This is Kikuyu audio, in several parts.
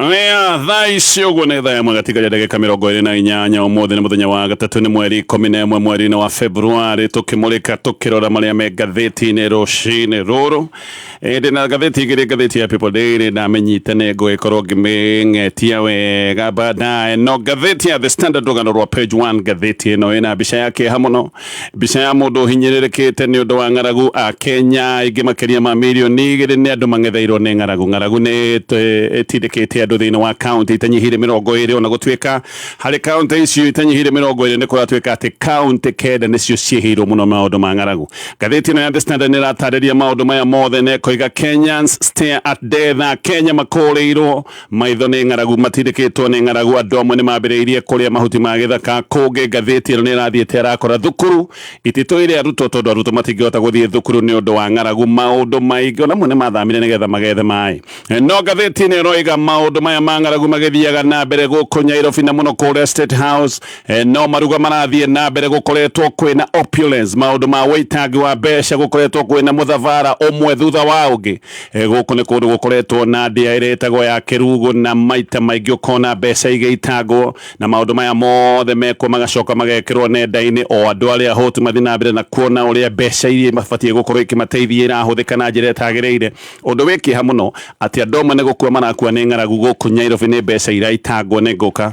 Aya thaa ici ũguo nĩ thaa ĩmwe gatigaria ndagĩka mĩrongo ĩrĩ na inyanya ũmũthĩ nĩ mũthenya wa gatatũ nĩ mweri ikũmi na ĩmwe mweri-inĩ wa Februarĩ tũkĩmũrĩka tũkĩrora marĩa me ngathĩti-inĩ rũcinĩ rũrũ ĩndĩ na ngathĩti igĩrĩ ngathĩti ya People Daily ndamĩnyita nĩ ngũgĩkorwo ngĩmĩng'etia wega baadaye no ngathĩti ya The Standard rũgano rwa page 1 ngathĩti ĩno ĩna mbica ya kĩeha mũno Mbica ya mũndũ ũhinyĩrĩrĩkĩte nĩ ũndũ wa ng'aragu a Kenya aingĩ makĩria ma milioni igĩrĩ nĩ andũ mang'etheirwo nĩ ng'aragu. Ng'aragu nĩ ĩtũ- ĩtindĩkĩte andũ thĩinĩ wa kaunti itanyihĩire mĩrongo ĩrĩ ona gũtuĩka harĩ kaunti icio itanyihĩire mĩrongo ĩrĩ nĩ kũratuĩka atĩ kaunti kenda nĩcio ciĩhĩirwo mũno maũndũ ma ng'aragu. Ngathĩti ĩno ya The Standard nĩ ĩratarĩria maũndũ maya mothe na ĩkoiga Kenyans stare at death, Akenya makũũrĩirwo Maitho nĩ ng'aragu matindĩkĩtwo nĩ ng'aragu, andũ amwe nĩ mambĩrĩirie kũrĩa mahuti ma gĩthaka. Kũngĩ ngathĩti ĩno nĩ ĩrathiĩte ĩrakora thukuru ititũ ĩrĩ arutwo tondũ arutwo matingĩhota gũthiĩ thukuru nĩ ũndũ wa ng'aragu. Maũndũ maingĩ ona amwe nĩ mathamire nĩgetha magethe maĩ. No ngathĩti ĩno ĩroiga maũndũ maya ma ng'aragu magĩthiaga na mbere gũkũ Nyairobi na mũno kũrĩa State House. Eh, no maruga marathiĩ na mbere gũkoretwo kwĩna opulence, maũndũ ma wĩitangi wa mbeca gũkoretwo kwĩna mũthabara ũmwe thutha wa ũngĩ. E, gũkũ nĩ kũndũ gũkoretwo na ndĩa ĩrĩa ĩtagwo ya kĩrugũ na maita maingĩ ũkona mbeca igĩitangwo na maũndũ maya mothe mekwo magacoka magekĩrwo nenda-inĩ o andũ arĩa hũtu mathiĩ na mbere na kuona ũrĩa mbeca iria mabatiĩ gũkorwo ikĩmateithia irahũthĩka na njĩra ĩtagĩrĩire ũndũ wĩ kĩeha mũno atĩ andũ amwe nĩ gũkua marakua nĩ ng'aragu gũkũ Nyairobi nĩ mbeca iraitangwo nĩ ngũka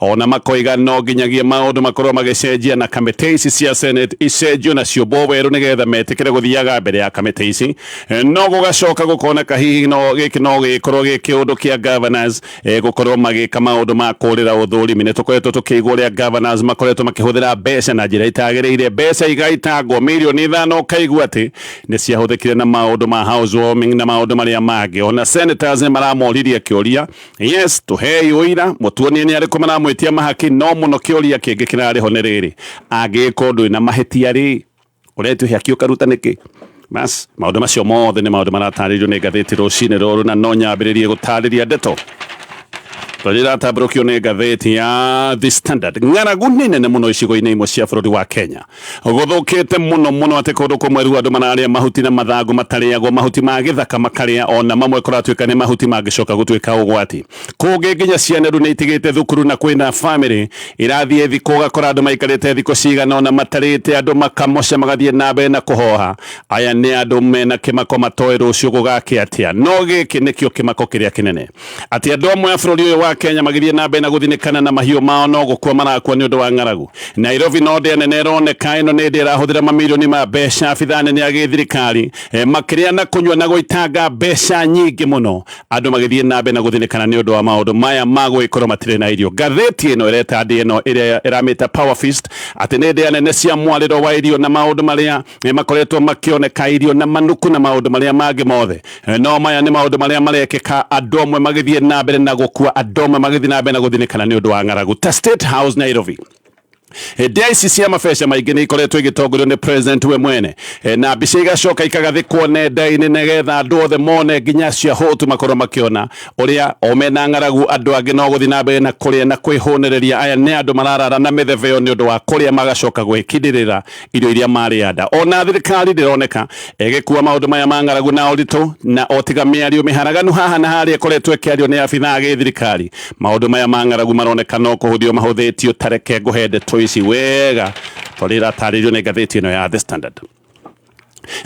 ona makoiga no nginyagia maũndũ makorwo magĩcenjia na kamĩtĩ ici cia senate icenjio na ciũmbwo werũ nĩgetha metĩkĩre gũthiaga mbere ya kamĩtĩ ici Eh, no gũgacoka gũkoneka hihi no gĩkĩ no gĩkorwo gĩ kĩũndũ kĩa governors eh, gũkorwo magĩka maũndũ ma kũrĩra ũthũrimi nĩ tũkoretwo tũkĩigua ũrĩa governors makoretwo makĩhũthĩra mbeca na njĩra itagĩrĩire mbeca igaitangwo mirioni ithano ũkaigua atĩ nĩ ciahũthĩkire na maũndũ ma house warming na maũndũ marĩa mangĩ ona senators nĩ maramoririe kĩũria yes tũhei ũira mũtuonie nĩ arĩkũ maramwĩtia mahaki no mũno kĩũria kĩngĩ kĩrarĩ ho nĩ rĩrĩ angĩgĩkorwo ndwĩ na mahĩtia rĩ ũretio hĩaki ũkaruta nĩkĩ bas maũndũ macio mothe nĩ maũndũ maratarĩrio nĩ ngathĩti rũcinĩ rũrũ na no nyambĩrĩrie gũtarĩria ndeto tondũ iratambũrũkio nĩ ngathĩti ya the standard ng'aragu nĩ nene mũno icigo-inĩ imwe cia bũrũri wa kenya Gũthũkĩte mũno mũno atĩ kũndũ kũmwe rĩu andũ mararĩa mahuti na mathangũ matarĩagwo, mahuti ma gĩthaka makarĩa o na mamwe kũratuĩka nĩ mahuti mangĩcoka gũtuĩka ũgwati. Kũngĩ nginya ciana rĩu nĩitigĩte thukuru na kwĩna famĩlĩ irathiĩ thikũ ũgakora andũ maikarĩte thikũ cigana ũna matarĩte, andũ makamoca magathiĩ na mbere na kũhoha. Aya nĩ andũ mena kĩmako matoĩ rũciũ gũgakĩa atĩa. No gĩkĩ nĩkĩo kĩmako kĩrĩa kĩnene. atĩ andũ amwe a bũrũri ũyũ wa Kenya magĩthiĩ na mbere na gũthinĩkana na mahiũ mao no gũkua marakua nĩ ũndũ wa ng'aragu. Nairobi no ndĩa nene ĩroneka ĩno nĩ ndĩa ĩrahũthĩra mamirioni ma mbeca abithaa nene ya gĩthirikari e, makĩrĩa na kũnyua na gũitanga mbeca nyingĩ mũno andũ magĩthiĩ na mbere na gũthinĩkana nĩ ũndũ wa maũndũ maya ma gũgĩkorwo matirĩ na irio. Ngathĩti ĩno ĩreta ndĩa ĩno ĩrĩa ĩramĩta Power Feast atĩ nĩ ndĩa nene cia mwarĩro wa irio na maũndũ marĩa e, makoretwo makĩoneka irio na manuku na maũndũ marĩa mangĩ mothe Eh, no maya nĩ maũndũ marĩa marekĩka andũ amwe magĩthiĩ na mbere na gũkua andũ amwe magĩthiĩ na mbere na gũthinĩkana nĩ ũndũ wa ng'aragu ta state house nairobi hĩndĩ ya ici cia mabeca maingĩ nä ikoretwo igĩtongorio nä president we mwene e, na mbica igacoka ikagathĩkwo nenda-inĩ nĩgetha andũ othe mone nginya cia hũtu makorwo makĩona ũrĩa o mena ng'aragu andũ angĩ no gũthiĩ na mbere na kũrĩa na kwĩhũnĩrĩria aya nĩ andũ mararara na mĩthebeo nĩ ũndũ wa kũrĩa magacoka gwĩkindĩrĩra irio iria marĩa nda ona thirikari ndironeka ĩgĩkua maundu maya ma ng'aragu na ũritũ na otiga mĩario mĩharaganu haha na harĩa ĩkoretwo ĩkĩario nĩ abithaa gĩ thirikari maundu maya ma ng'aragu maroneka no kũhũthio mahũthĩtio tareke ngũhe ndeto ici wega tondũ iratarĩrio nĩ ngathĩti ĩno ya The Standard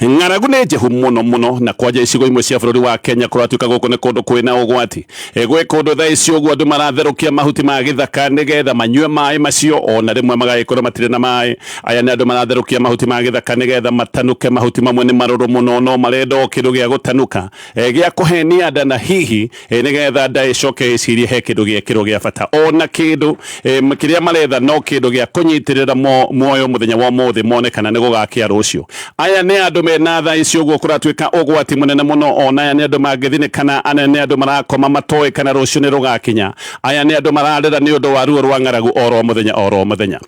Ng'aragu nĩ njĩhu mũno mũno na kwanja icigo imwe cia bũrũri wa Kenya kũratuĩka gũkũ nĩ kũndũ kwĩ na ũgwati. E, gwĩ kũndũ thaa ici ũguo andũ maratherũkia mahuti ma gĩthaka nĩgetha manyue maĩ macio, o na rĩmwe magagĩkorwo matirĩ na maĩ. Aya nĩ andũ maratherũkia mahuti ma gĩthaka nĩgetha matanũke, mahuti mamwe nĩ marũrũ mũno no marenda o kĩndũ gĩa gũtanũka, e, gĩa kũhenia nda na hihi eh, nigetha nda icoke icirie he kindu giekirwo gia bata ona kindu eh, kiria maretha no kindu gia kunyitirira muoyo muthenya wa muthi mone kana ni gugakia rucio aya ni andu mena tha icio guo kuratuika ugwati munene muno ona aya ni andu mangithinikana ana ni andu marakoma matoe kana rucio ni rugakinya aya ni andu mararira ni undu wa ruo rwa ng'aragu oro muthenya oro muthenya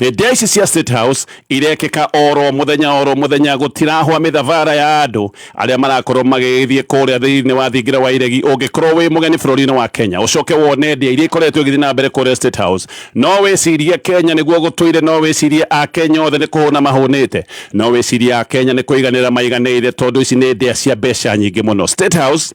Ndia ici cia State House irekeka oro muthenya oro muthenya gutirahwa mithavara ya andu aria marakorwo magigithie kuria thiini wa thingira wa iregi ungikorwo wi mugeni bururi-ini wa Kenya ucoke wone ndia iria ikoretwo igithii na mbere kuria State House no wicirie Kenya niguo gutuire no wicirie a Kenya othe ni kuhuna mahunite no wicirie a Kenya ni kuiganira maiganire tondu ici ni ndia cia mbeca nyingi muno State House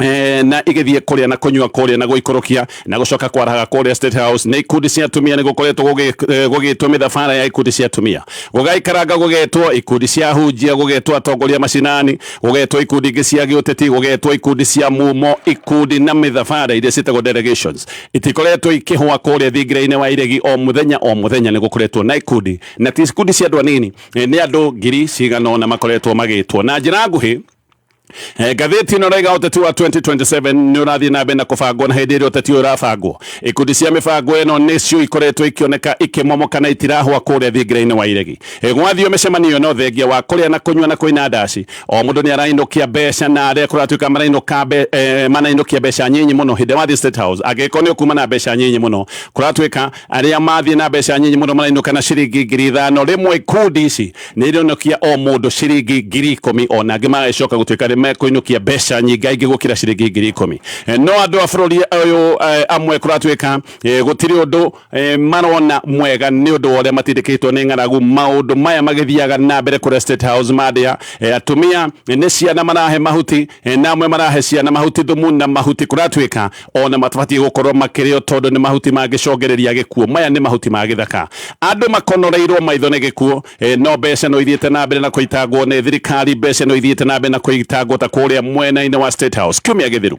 Eh, na igithie kuria na kunywa kuria na guikurukia na gucoka kwarahaga kuria state house ni ikundi cia atumia ni gukoretwo gugitwo eh, mithabara ya ikundi cia atumia gugaikaranga gugetwo ikundi cia hunjia gugetwo atongoria macinani gugetwo ikundi ingi cia giuteti gugetwo ikundi cia mumo ikundi na mithabara iria citagwo delegations itikoretwo ikihwa kuria thingira-ini wa iregi o muthenya o muthenya ni gukoretwo na ikundi na ti ikundi cia andu anini eh, ni andu ngiri cigana ona makoretwo magitwo na njira nguhi Eh, ngathĩti ĩno raiga ũteti wa 2027 nĩ ũrathiĩ na mbere na kũbangwo na hĩndĩ ĩrĩa ũteti ũyũ ũrabangwo ikundi cia mĩbango ĩno nĩcio ikoretwo ikĩoneka ikĩmomoka na itirahwa kũrĩa thingira-inĩ wa iregi eh, gwathio mĩcemanio ĩno thengia wa kũrĩa na kũnyua na kũina ndaci o mũndũ nĩ arainũkia mbeca na arĩa kũratuĩka marainũka mbe, eh, manainũkia mbeca nyinyi mũno hĩndĩ wathiĩ state house angĩkorwo nĩ ũkuma na mbeca nyinyi mũno kũratuĩka Arĩa mathiĩ na mbeca nyinyi mũno marainũka na ciringi ngiri ithano rĩmwe. Ikundi ici nĩ irĩinũkia o mũndũ ciringi ngiri ikũmi o na angĩ magagĩcoka gũtuĩka nĩ mekũinũkia mbeca nyingaingĩ gũkĩra ciringi ngiri ikũmi. Eh, no andũ a bũrũri ũyũ eh, amwe kũratuĩka eh, gũtirĩ ũndũ eh, marona mwega nĩ ũndũ wa ũrĩa matindĩkĩtwo nĩ ng'aragu maũndũ maya magĩthiaga na mbere kũrĩa State House mandĩa eh, atumia eh, nĩ ciana marahe mahuti E, na amwe marahe ciana mahuti thumu na mahuti kũratuĩka ona matabatie gũkorwo makĩrĩo tondũ nĩ mahuti mangĩcongereria gĩkuo maya nĩ mahuti ma gĩthaka andũ makonoreirwo maitho nĩ gĩkuo e, no mbeca no ithiĩte na mbere na kũitangwo nĩ thirikari mbeca no ithiĩte na mbere na kũitangwo ta kũrĩa mwena-inĩ wa State House kiumia gĩthiru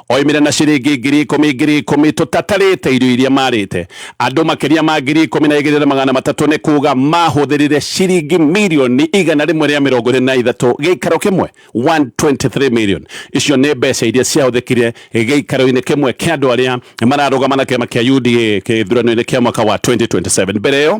Oimĩre na ciringi ngiri ikũmi ngiri ikũmi tũtatarĩte irio iria marĩte. Andũ makĩria ma ngiri ikũmi na igĩrĩ na magana matatũ nĩ kuuga mahũthĩrire ciringi mirioni igana rĩmwe rĩa mĩrongo ĩrĩ na ithatũ gĩikaro kĩmwe, 123 million. Icio nĩ mbeca iria ciahũthĩkire gĩikaro-inĩ kĩmwe kĩa andũ arĩa mararũgama na kĩama kĩa UDA gĩthurano-inĩ kĩa mwaka wa 2027. Mbere ĩyo,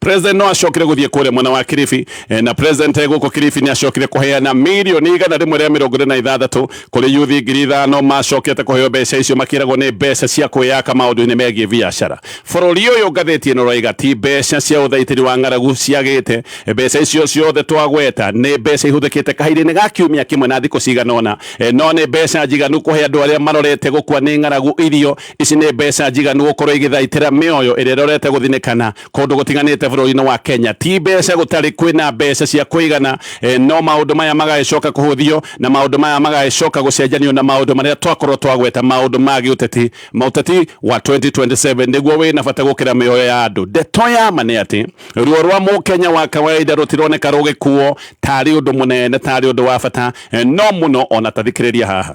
president no acokire guthie kuria mwena wa kiribi eh, na president eh, guku kiribi ni acokire kuheana milioni igana rimwe ria mirongo ine na ithathatu kuri yuthi ngiri ithano macokete kuheo mbeca icio makiragwo ni mbeca cia kwiyaka maundu-ini megie biacara bururi uyu ngatheti ino roiga ti mbeca cia uthaitiri wa ng'aragu ciagite mbeca icio ciothe twagweta ni mbeca ihuthikite kahinda-ini ga kiumia kimwe na thiku cigana ona Eh, no ni mbeca njiganu kuhe andu aria marorete gukua ni ng'aragu irio Ici nĩ mbeca njiganu gũkorwo igĩthaitĩra mĩoyo ĩrĩa ĩrorete gũthinĩkana kũndũ gũtiganĩte bũrũri-inĩ wa Kenya. Ti mbeca gũtarĩ kwĩna mbeca cia kũigana, e, no maũndũ maya magagĩcoka kũhũthio na maũndũ maya magagĩcoka gũcenjanio na maũndũ marĩa twakorwo twagweta maũndũ ma gĩũteti. Maũteti wa 2027 nĩguo wĩna bata gũkĩra mĩoyo ya andũ. Ndeto ya ma nĩ atĩ ruo rwa mũkenya wa kawaida rũtironeka rũgĩkuo tarĩ ũndũ mũnene, tarĩ ũndũ wa bata, e, no mũno ona tathikĩrĩria haha.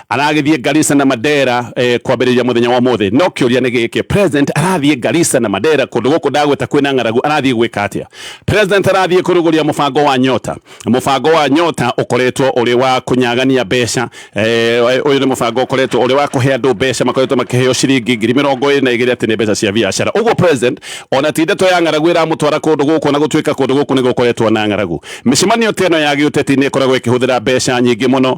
aragĩthiĩ Garissa na Mandera eh, kwambĩrĩria mũthenya wa ũmũthĩ no kĩũria nĩ gĩkĩ president arathiĩ Garissa na Mandera kũndũ gũkũ ndagweta kwĩna ng'aragu arathiĩ gwĩka atĩa president arathiĩ kũrugũria mũbango wa nyota mũbango wa nyota ũkoretwo ũrĩ wa kũnyagania mbeca eh, ũyũ nĩ mũbango ũkoretwo ũrĩ wa kũhe andũ mbeca makoretwo makĩheo ciringi ngiri mĩrongo ĩrĩ na igĩrĩ atĩ nĩ mbeca cia biacara ũguo president ona ti ndeto ya ng'aragu ĩramũtwara kũndũ gũkũ na gũtuĩka kũndũ gũkũ nĩ gũkoretwo na ng'aragu mĩcemanio ta ĩno ya gĩũteti nĩ ĩkoragwo ĩkĩhũthĩra mbeca nyingĩ mũno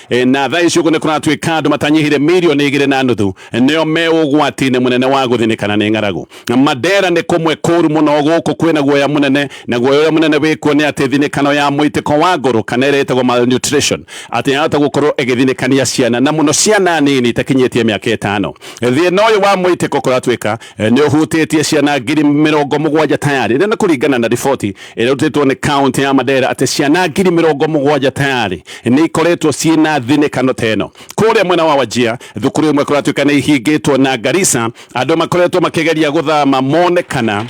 E, na thaa ici ũguo nĩ kũratuĩka andũ matanyihire mirioni igĩrĩ na nuthu nĩo me ũgwati-inĩ mũnene wa gũthinĩkana nĩ ng'aragu mandera nĩ kũmwe kũru mũno gũkũ kwĩna guoya mũnene na guoya ũrĩa mũnene wĩkuo nĩ atĩ thinĩkano ya mũitĩko wa ngũrũ kana ĩrĩa ĩtagwo malnutrition atĩ yahota gũkorwo ĩgĩthinĩkania ciana na mũno ciana nini itakinyĩtie mĩaka ĩtano thĩna ũyũ wa mũitĩko kũratuĩka nĩ ũhutĩtie ciana ngiri mĩrongo mũgwanja tayarĩ na nĩ kũringana na riboti ĩrĩa ĩrutĩtwo nĩ kaunti ya Mandera atĩ ciana ngiri mĩrongo mũgwanja tayarĩ nĩ ikoretwo ciĩ na thinĩkano ta ĩno kũrĩa mwena wa Wajia thukuru ĩmwe kũratuĩka nĩ ihingĩtwo na Garissa andũ makoretwo makĩgeria gũthama monekana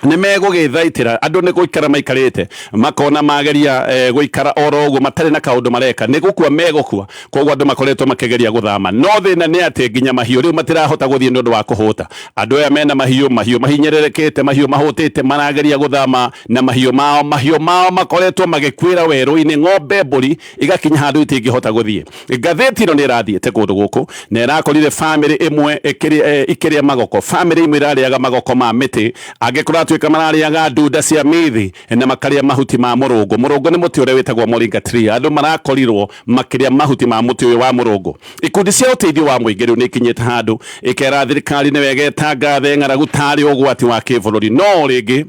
nä megå gä thaitĩra andå nä gå ikara maikarä te makona mageria eh, gå ikara oro å guo matarä na kaå ndå mareka nä gå kua megå kua Koguo andũ makoretwo makĩgeria gũthama, no thĩna nĩ atĩ nginya mahiũ rĩu matirahota gũthiĩ nĩ ũndũ wa kũhũta. Andũ aya mena mahiũ, mahiũ mahinyĩrĩrĩkĩte, mahiũ mahũtĩte marageria gũthama na mahiũ mao, mahiũ mao makoretwo magĩkuĩra werũ-inĩ, ng'ombe, mbũri igakinya handũ itingĩhota gũthiĩ. Ngathĩti ĩno nĩ ĩrathiĩte kũndũ gũkũ na ĩrakorire famĩlĩ ĩmwe ĩkĩrĩa, ikĩrĩa magoko, famĩlĩ imwe irarĩaga magoko ma mĩtĩ, angĩ kũratuĩka mararĩaga ndunda cia mĩĩthĩ na makarĩa mahuti ma mũrũngũ. Mũrũngũ nĩ mũtĩ ũrĩa wĩtagwo moringa tree. Andũ marakorirwo makĩrĩa mahuti ma mũtĩ ũyũ wa mũrũngũ. Ikundi cia ũteithio wa mũingĩ rĩu nĩikinyĩte handũ ĩkera thirikari nĩ wega ĩtangathe ng'aragu tarĩ ũgwati wa kĩbũrũri. No rĩngĩ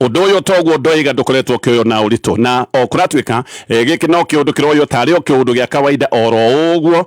Ũndũ ũyũ toguo ndoiga ndũkoretwo ũkĩoywo na ũritũ, na o kũratuĩka eh, gĩkĩ no kĩũndũ kĩroywo tarĩ o kĩũndũ gĩa kawaida oro ũguo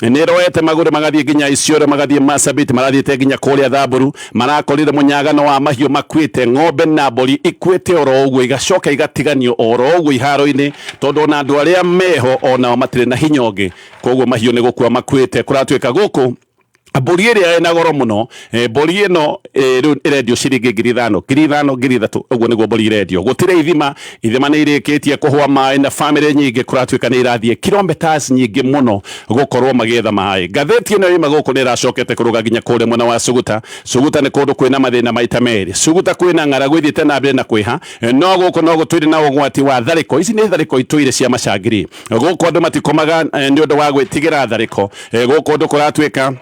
nĩroete magũrũ magathiĩ nginya Isiolo magathiĩ Marsabit marathiĩte nginya kũrĩa Thamburu marakorire mũnyagano wa mahiũ makuĩte ng'ombe na mbũri ikuĩte oro ũguo igacoka igatiganio oro ũguo iharo-inĩ tondũ ona andũ arĩa meho onao matirĩ na hinya ũngĩ koguo mahiũ nĩ gũkua makuĩte kũratuĩka gũkũ mbũri ĩrĩa ĩna goro mũno Eh, mbũri ĩno eh, rĩu ĩrendio ciringi ngiri ithano ngiri ithano ngiri ithatũ ũguo nĩguo mbũri irendio gũtirĩ ithima ithima nĩ irĩkĩtie kũhũa maĩ na bamĩrĩ nyingĩ kũratuĩka nĩ irathiĩ kilometres nyingĩ mũno gũkorwo magĩetha maĩ ngathĩti ĩno yuma gũkũ nĩ ĩracokete kũrũga nginya kũrĩa mwena wa Suguta Suguta nĩ kũndũ kwĩna mathĩna maita merĩ Suguta kwĩna ng'aragu ĩthiĩte na mbere na kwĩha eh, no gũkũ no gũtuire na ũgwati wa tharĩko ici nĩ tharĩko itũire cia macangiri gũkũ andũ matikomaga eh, nĩ ũndũ wa gwĩtigĩra tharĩko Eh, gũkũ ũndũ kũratuĩka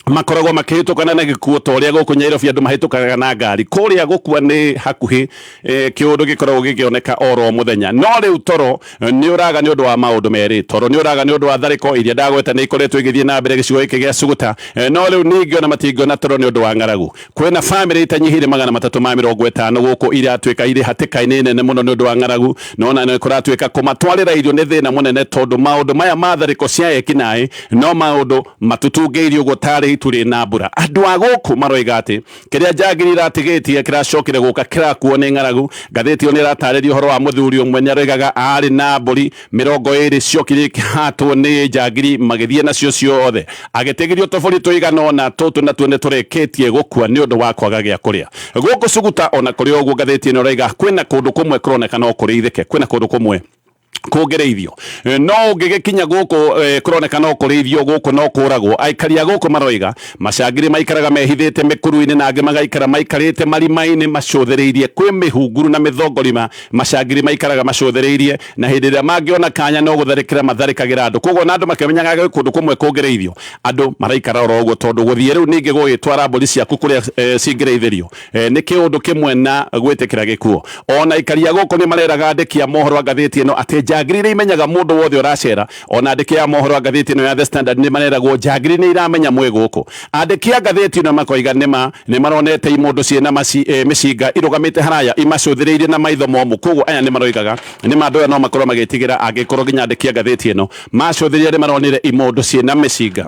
makoragwo makĩhĩtũkana na gĩkuũ ta ũrĩa gũkũ Nyairobi andũ mahĩtũkaga na ngari kũrĩa gũkua nĩ hakuhĩ e, kĩũndũ gĩkoragwo gĩkĩoneka oro mũthenya no rĩu toro eh, nĩ ũraga nĩ ũndũ wa maũndũ merĩ toro nĩ ũraga nĩ ũndũ wa tharĩko iria ndagweta nĩ ikoretwo igĩthiĩ na mbere gĩcigo gĩkĩ gĩa Suguta eh, no rĩu ningĩ ona matingĩona toro nĩ ũndũ wa ng'aragu Kwĩna famĩlĩ itanyihĩire magana matatũ ma mĩrongo ĩtano gũkũ iratuĩka irĩ hatĩka-inĩ nene mũno nĩ ũndũ wa ng'aragu, no na nĩ kũratuĩka kũmatwarĩra irio nĩ thĩna mũnene tondũ maũndũ maya ma tharĩko cia ekinaĩ no maũndũ matũtungĩirio gũtarĩ itu rĩ na mbura. Andũ a gũkũ maroiga atĩ kĩrĩa njangiri iratigĩtie kĩracokire gũka kĩrakuo nĩ ng'aragu. Ngathĩti ĩyo nĩ ĩratarĩria ũhoro wa mũthuri ũmwe nĩ aroigaga arĩ na mbũri mĩrongo ĩrĩ ciokire ikĩhatwo nĩ njangiri magĩthiĩ nacio ciothe agĩtegĩrio tũbũri tũigana ona tũtũ natuo nĩ tũrĩkĩtie gũkua nĩ ũndũ wa kwaga gĩa kũrĩa gũkũ cuguta ona kũrĩ ũguo ngathĩti ĩno ĩraiga kwĩna kũndũ kũmwe kũroneka no kũrĩithĩke kwĩna kũndũ kũmwe kũngĩrĩithio eh, no ũngĩgĩkinya gũkũ eh, kũroneka no kũrĩithio gũkũ no kũragwo aikari a gũkũ maroiga macangirĩ maikaraga mehithĩte mĩkuru-inĩ na angĩ magaikara maikarĩte marima-inĩ macũthĩrĩirie kwĩ mĩhunguru na mĩthongorima macangirĩ maikaraga macũthĩrĩirie na hĩndĩ ĩrĩa mangĩona kanya no gũtharĩkĩra matharĩkagĩra andũ koguo na andũ makĩmenyaga gwĩ kũndũ kũmwe kũngĩrĩithio andũ maraikara oro ũguo tondũ gũthiĩ rĩu ningĩ gũgĩtwara mbũri ciaku kũrĩa e, cingĩrĩithĩrio e, nĩ kĩũndũ kĩmwe na gwĩtĩkĩra gĩkuo ona ikaria gũkũ nĩ mareraga andĩki a mohoro a ngathĩti ĩno atĩ njangiri iria imenyaga mũndũ wothe ũracera Ona andĩki a mohoro a ngathĩti ĩno ya The Standard nĩ mareragwo njangiri nĩ iramenya mwĩ gũkũ. Andĩki a ngathĩti ĩno makoiga nĩma nĩ maronete imũndũ ciĩ na e, mĩcinga irũgamĩte haraya imacũthĩrĩirie na maitho momũ. Kwoguo aya nĩ maroigaga nĩma andũ aya no makorwo magĩtigĩra angĩkorwo nginya andĩki a ngathĩti ĩno macũthĩrĩria nĩ maronire imũndũ ciĩ na mĩcinga.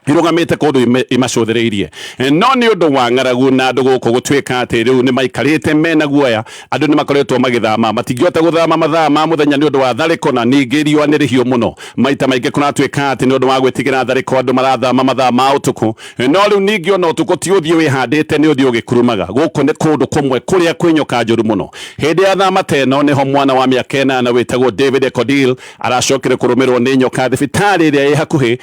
irũgamĩte kũndũ ime- imacũthĩrĩirie Eh, no nĩ ũndũ wa ng'aragu na andũ gũkũ gũtuĩka atĩ rĩu nĩ maikarĩte mena guoya andũ nĩ makoretwo magĩthama matingĩhota gũthama mathaa ma mũthenya nĩ ũndũ wa tharĩko na ningĩ riũa nĩ rĩhiũ mũno maita maingĩ kũratuĩka atĩ nĩ ũndũ wa gwĩtigĩra tharĩko andũ marathama mathaa ma ũtukũ Eh, no rĩu ningĩ ona ũtukũ ti ũthiĩ wĩhandĩte nĩ ũthiĩ ũgĩkurumaga gũkũ nĩ kũndũ kũmwe kũrĩa kwĩ nyoka njũru mũno hĩndĩ ya thama ta ĩno nĩho mwana wa mĩaka ĩnana wĩtagwo david ekodil aracokire kũrũmĩrwo nĩ nyoka thibitarĩ ĩrĩa ĩ hakuhĩ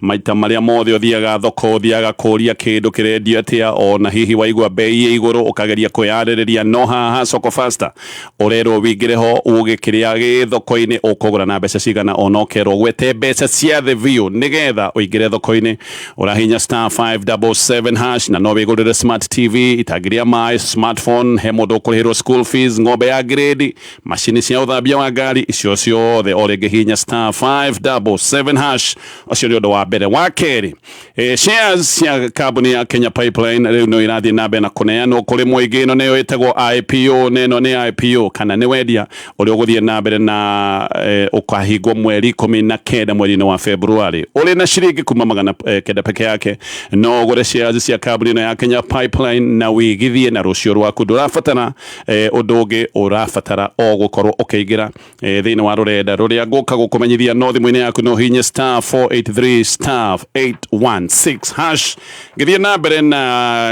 Maita marĩa mothe ũthiaga thoko ũthiaga kũũria kĩndũ kĩrendio atĩa, o na hihi waigua mbei ĩ igũrũ ũkageria kwĩyarĩrĩria, no haha Soko Fasta ũrerwo ũingĩre ho uge kĩrĩa gĩ thoko-inĩ ũkũgũra na mbeca cigana, o na ũkerwo ũgwete mbeca cia thĩ biũ nĩ getha ũingĩre thoko-inĩ. Ũrahihinya star five double seven hash na no wĩgũrĩre smart TV, itangi rĩa maĩ, smartphone, he mũndũ ũkũrĩhĩrwo school fees, ng'ombe ya ngirĩndi, macini cia ũthambia wa ngari icio ciothe o rĩngĩ hinya star 577 hash ũcio nĩ ũndũ wa mbere wa kerĩ e, shares cia kambuni ya Kenya Pipeline rĩu no irathiĩ na mbere na kũneanwo kũrĩ mũingĩ ĩno nĩyo ĩtagwo IPO na ĩno nĩ IPO kana nĩ wendia ũrĩa ũgũthiĩ na mbere na e, ũkahingwo mweri ikũmi na kenda mweri-inĩ wa February ũrĩ na ciringi kuma magana e, kenda peke yake no ũgũre shares cia kambuni ĩno ya Kenya Pipeline na wĩigithie na rũciũ rwaku ndũrabatara eh, ũndũ ũngĩ ũrabatara o gũkorwo ũkĩingĩra eh, thĩinĩ wa rũrenda rũrĩa ngũka gũkũmenyithia no thimũ-inĩ yaku no hihinye star 483 star 816 hash ngĩthiĩ na mbere na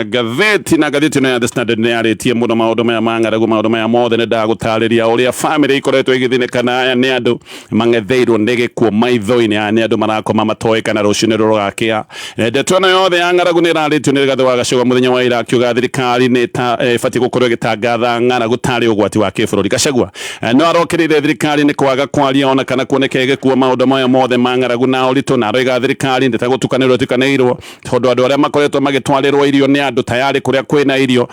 ngathĩti na ngathĩti ĩno ya The Standard nĩ yarĩtie mũno maũndũ maya ma ng'aragu maũndũ maya mothe nĩ ndagũtarĩria ũrĩa bamĩrĩ ikoretwo igĩthĩnĩka na aya nĩ andũ mang'etheirwo nĩ gĩkuo maitho-inĩ. Aya nĩ andũ marakoma matoĩ kana rũciũ nĩ rũgakĩa. Eh, ndeto ĩno yothe ya ng'aragu nĩ ĩrarĩtio nĩ Rigathĩ wa Gachagua mũthenya wa ira akiuga thirikari nĩ eh, ĩbatiĩ gũkorwo ĩgĩtangatha ng'aragu tarĩ ũgwati wa kĩbũrũri. Gachagua eh, no arokĩrĩire thirikari nĩ kwaga kwaria ona kana kuoneka ĩgĩkuo maũndũ maya mothe ma ng'aragu na ũritũ na aroiga thirikari ndĩtagũtukanĩrwo ĩtukanĩirwo tondũ andũ arĩa makoretwo magĩtwarĩrwo irio nĩ andũ tayarĩ kũrĩa kwĩna irio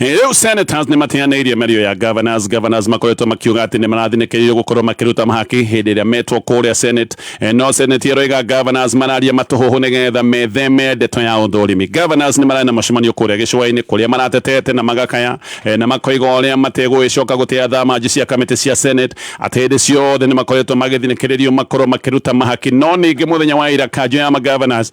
rĩu senators nĩ mateanĩirie mĩario ya governors governors makoretwo makiuga atĩ nĩ marathinĩkĩrĩirio gũkorwo makĩruta mahaki hĩndĩ ĩrĩa metwo kũrĩa senate Eh, no senate ĩroiga governors mararia matũhũhũ nĩgetha metheme ndeto ya ũthũrimi governors nĩ mararĩ na mũcemanio kũrĩa gĩcũa-inĩ kũrĩa maratetete na magakaya eh, na makoiga ũrĩa mategũgĩcoka gũtĩa thamanji cia kamĩtĩ cia senate atĩ hĩndĩ ciothe nĩ makoretwo magĩthinĩkĩrĩrio makorwo makĩruta mahaki no ningĩ mũthenya wa ira kanjũ ya magovernors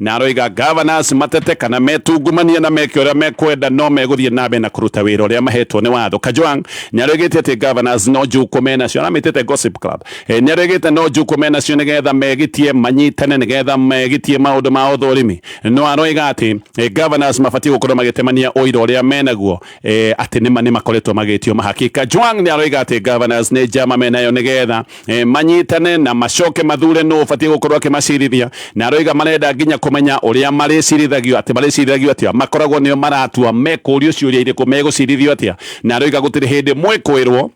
na aroiga ngavana acio matete kana metungumanie na meke ũrĩa mekwenda no megũthiĩ na mbere na kũruta wĩra ũrĩa mahetwo nĩ watho Kajwang' nĩ aroigĩte atĩ ngavana acio no njukũ me nacio aramĩtĩte Gossip Club Eh, nĩ aroigĩte no njukũ me nacio nĩgetha megĩtie manyitane nĩgetha megĩtie maũndũ ma ũthũrimi no aroiga atĩ eh, ngavana acio mabatiĩ gũkorwo magĩtemania ũira ũrĩa menaguo eh, atĩ nĩma nĩ makoretwo magĩtio mahaki Kajwang' nĩ aroiga atĩ ngavana acio nĩ njama menayo nĩgetha e, manyitane na macoke mathure nũ ũbatiĩ gũkorwo akĩmacirithia na aroiga marenda nginya kũmenya ũrĩa marĩcirithagio atĩ marĩcirithagio atĩa makoragwo nĩo maratua mekũrio ciũria irĩkũ megũcirithio atĩa na aroiga gũtirĩ hĩndĩ mwĩkwĩrwo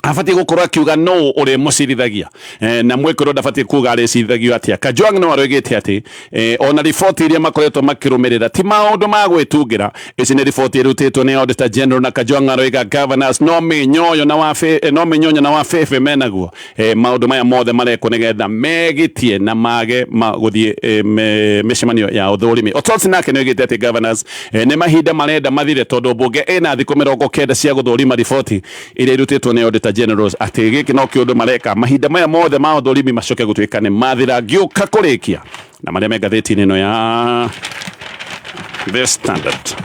abatiĩ gũkorwo akiuga no ũrĩmũcirithagia e, na mwĩkĩrwo ndabatiĩ kuga arĩcirithagio atĩa kajwang no aroigĩte atĩ E, ona riboti iria makoretwo makirumirira ti maundu ma gwitungira ici ni riboti irutitwo ni Auditor General na Kajwang'a Roiga Governors no minyoyo na wa e, no minyonyo na wa febe menaguo e, maundu maya mothe marekwo nigetha megitie na mage guthie e, me, micemanio ya uthurimi Otosi nake niogite ati Governors e, ni mahinda marenda mathire tondu bunge ina thiku mirongo kenda cia guthurima riboti ĩrĩa ĩrutĩtwo nĩ Auditor Generals atĩ gĩkĩ no kĩũndũ mareka mahinda maya mothe ma ũthũrimi macoke gũtuĩka nĩ mathira ngĩũka kũrĩkia na marĩa me ngathĩti-inĩ ĩno ya The Standard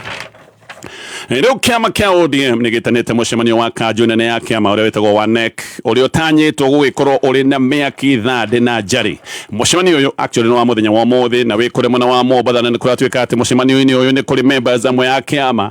rĩu kĩama kĩa ODM nĩ gĩtanĩte mũcemanio wa kanjũ nene ya kĩama ũrĩa wĩtagwo wa NEC ũrĩa ũtanyĩtwo gũgĩkorwo ũrĩ na mĩaki thandĩ na njari mũcemanio ũyũ actually nĩ wa mũthenya wa ũmũthĩ na wĩ kũrĩ mwena wa Mombatha na nĩ kũratuĩka atĩ mũcemanio-inĩ ũyũ nĩ kũrĩ members amwe ya kĩama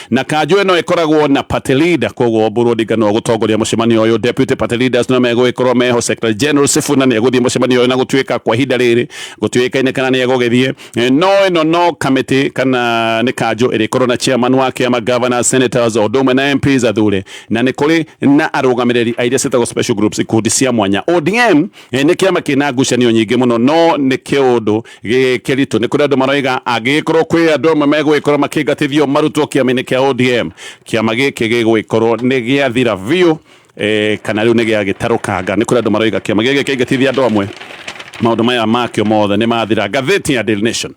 Na kanjũ ĩno ĩkoragwo na party leader, koguo Oburu Odinga no gũtongoria mũcemanio ũyũ. Deputy party leaders no megũgĩkorwo meho. Secretary General Sifuna nĩ egũthiĩ mũcemanio ũyũ na gũtuĩka kwa ihinda rĩrĩ gũtiũĩkaine kana nĩ egũgĩthiĩ. Eh, no ĩno no kamĩtĩ kana nĩ kanjũ ĩrĩkorwo na chairman wa kĩama, governors, senators o ũndũ ũmwe na MPs athure, na nĩ kũrĩ na arũgamĩrĩri a iria ciĩtagwo special groups, ikundi cia mwanya. ODM eh, nĩ kĩama kĩna ngucanio nyingĩ mũno, no nĩ kĩũndũ gĩkĩritũ nĩ kũrĩ andũ maroiga angĩgĩkorwo kwĩ andũ amwe megũgĩkorwo makĩingatithio marutwo kĩama-inĩ kĩa ODM kĩama gĩkĩ gĩgũgĩkorwo nĩ gĩathira biũ eh, kana rĩu nĩ gĩagĩtarũkanga nĩ kũrĩ andũ maroiga kĩama gĩkĩ kĩingatithia andũ amwe maũndũ maya makĩo mothe nĩ mathira ngathĩti ya Daily Nation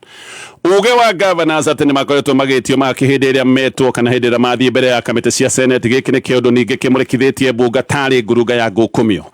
uge wa governors atĩ nĩ makoretwo magĩtio makĩ hĩndĩ ĩrĩa metwo kana hĩndĩ ĩrĩa mathiĩ mbere ya kamĩtĩ cia senate gĩkĩ nĩ kĩũndũ ningĩ kĩmũrĩkithĩtie mbunga tarĩ ngurunga ya ngũkũmio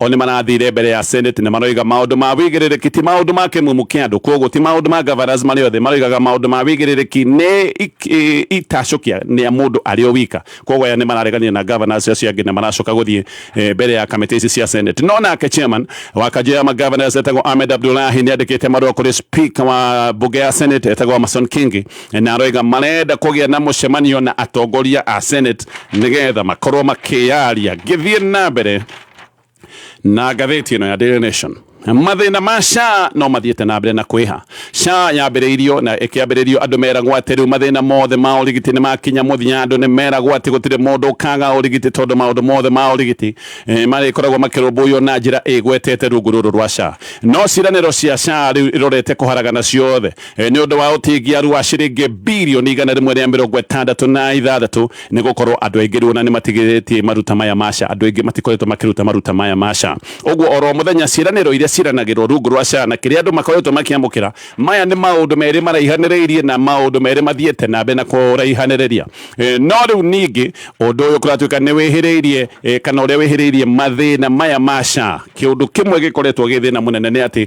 O nĩ marathire mbere ya Senate na maroiga maũndũ ma wĩigĩrĩrĩki, ti maũndũ ma kĩmumu kĩa andũ. Kwoguo ti maũndũ ma Gavanas marĩ othe, maroigaga maũndũ ma wĩigĩrĩrĩki nĩ itacũkia nĩa mũndũ arĩ o wika. Kwoguo aya nĩ mararegania na Gavanas acio angĩ na maracoka gũthiĩ mbere ya kamĩtĩ ici cia Senate. No nake Chairman wa kanjũ ya ma Gavanas etagwo Ahmed Abdullahi nĩ andĩkĩte marũa kũrĩ Speaker wa mbunge ya Senate etagwo Amason Kingi na aroiga marenda kũgĩa na mũcemanio na atongoria a Senate nĩgetha makorwo makĩyaria gĩthiĩ na mbere na ngathĩti ĩno ya Daily Nation mathĩna ma SHA no mathiĩte na mbere na kwĩha SHA yambĩrĩirio na ĩkĩambĩrĩrio andũ meragwo atĩ rĩu mathĩna mothe ma ũrigiti nĩ makinya mũthia andũ nĩ meragwo atĩ gũtirĩ mũndũ ũkaga ũrigiti tondũ maũndũ mothe ma ũrigiti eh, marĩkoragwo makĩrũmbũiyo na njĩra ĩgwetete rungu rũrũ rwa SHA no ciranĩro cia SHA rĩu irorete kũharagana ciothe Eh, nĩ ũndũ wa ũtingiaru wa ciringi birioni igana rĩmwe rĩa mĩrongo ĩtandatũ na ithathatũ nĩ gũkorwo andũ aingĩ rĩu ona nĩ matigĩrĩtie maruta maya maca andũ aingĩ matikoretwo makĩruta maruta maya maca ũguo oro mũthenya ciĩranĩro iria ciranagĩrwo rungu rwa cana kĩrĩa andũ makoretwo makĩamũkĩra maya nĩ maũndũ merĩ maraihanĩrĩirie na maũndũ merĩ mathiĩte na mbere na kũraihanĩrĩria eh, no rĩu ningĩ ũndũ ũyũ kũratuĩka nĩ wĩhĩrĩirie eh, kana ũrĩa wĩhĩrĩirie mathĩna maya maca kĩũndũ kĩmwe gĩkoretwo gĩ thĩna mũnene nĩ atĩ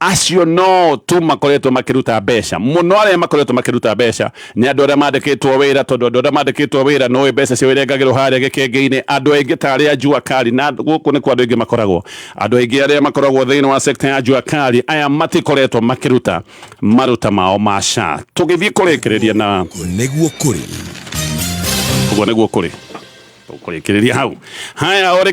acio no tu makoretwo makiruta mbeca muno aria makoretwo makiruta mbeca ni andu aria mandikitwo wira tondu andu aria mandikitwo wira no mbeca cio irengagirwo haria gikenge-ini andu aingi ta aria jua kali na guku ni kwa andu aingi makoragwo andu aingi aria makoragwo thiini wa sector ya jua kali aya matikoretwo makiruta maruta mao ma SHA tugithii kurikiriria na nĩguo kũrĩ uguo niguo kuri kurikiriria hau haya ore